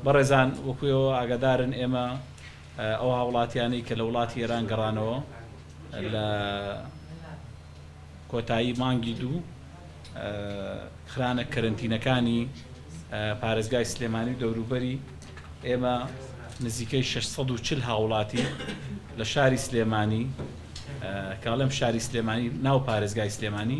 بەڕێزان وەکو ئێوە ئاگادارن ئێمە ئەو هاوڵاتیانەی کە لە وڵاتی ئێران گەڕانەوە لە کۆتایی مانگی دوو خرانە کەرنتینەکانی پارێزگای سلێمانی و دەوروبەری ئێمە نزیکەی 640 هاوڵاتی لە شاری سلێمانی کاڵم شاری سلێمانی ناو پارێزگای سلێمانی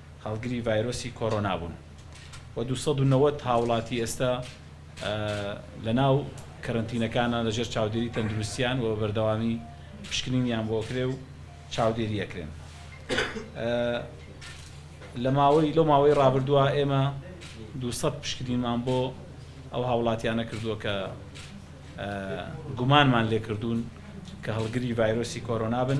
هەڵگری ڤایرۆسی کۆرۆنا بوون و دوو سەد و نەوەد هاوڵاتی ئێستا لەناو کەرەنتینەکانە لەژێر چاودێری تەندروستیان و بەردەوامی پشکنینیان بۆ کرێ و چاودێری ئەکرێن لە ماوەی لەو ماوەی ڕابردووە ئێمە دوو سەد پشکنینمان بۆ ئەو هاوڵاتیانە کردووە کە گومانمان لێکردوون کە هەڵگری ڤایرۆسی کۆرۆنا بن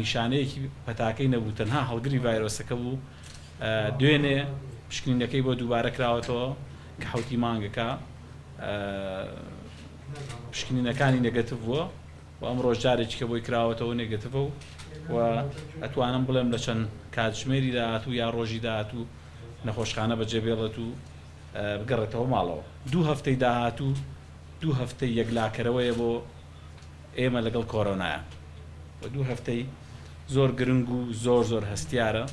نیشانەیەکی پەتاکەی نەبوو، تەنها هەڵگری ڤایرۆسەکە بوو، دوێنێ پشکنینەکەی بۆ دووبارە کراوەتەوە کە حەوتی مانگەکە پشکنینەکانی نێگەتڤ بووە و ئەمڕۆش جارێکیکە بۆی کراوەتەوە نێگەتڤە و ئەتوانم بڵێم لە چەند کاتژمێری داهاتوو یا ڕۆژی داهاتوو نەخۆشخانە بەجێبێڵێت و بگەڕێتەوە ماڵەوە دوو هەفتەی داهاتوو دوو هەفتەی یەکلاکەرەوەیە بۆ ئێمە لەگەڵ کۆرۆنایە و دوو هەفتەی زۆر گرنگ و زۆر زۆر هەستیارە،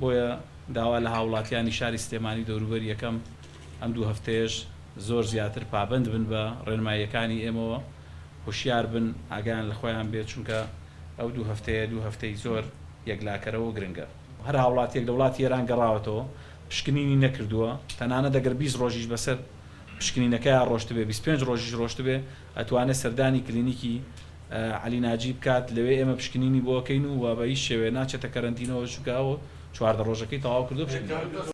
بۆیە داوا لە هاوڵاتیانی شاری سلێمانی و دەوروبەری ئەکەم ئەم دوو هەفتەیەش زۆر زیاتر پابەند بن بە ڕێنماییەکانی ئێمەوە، هۆشیار بن ئاگایان لە خۆیان بێت، چونکە ئەو دوو هەفتەیە دوو هەفتەی زۆر یەکلاکەرە و گرنگە. هەر هاوڵاتییەک لە وڵاتی ئێران گەڕاوەتەوە پشکنینی نەکردووە، تەنانەت ئەگەر بیست ڕۆژیش بەسەر پشکنینەکەیا ڕۆشتبێ، بیست پێنج ڕۆژیش ڕۆشتبێ، ئەتوانێت سەردانی کلینیکی عەلی ناجی بکات لەوێ ئێمە پشکنینی بۆ ئەکەین و وە بەهیچ شێوەیە ناچێتە کەرەنتینەوە چونکە ئەو چواردە ڕۆژەکەی تەواو کردووە پشکنینی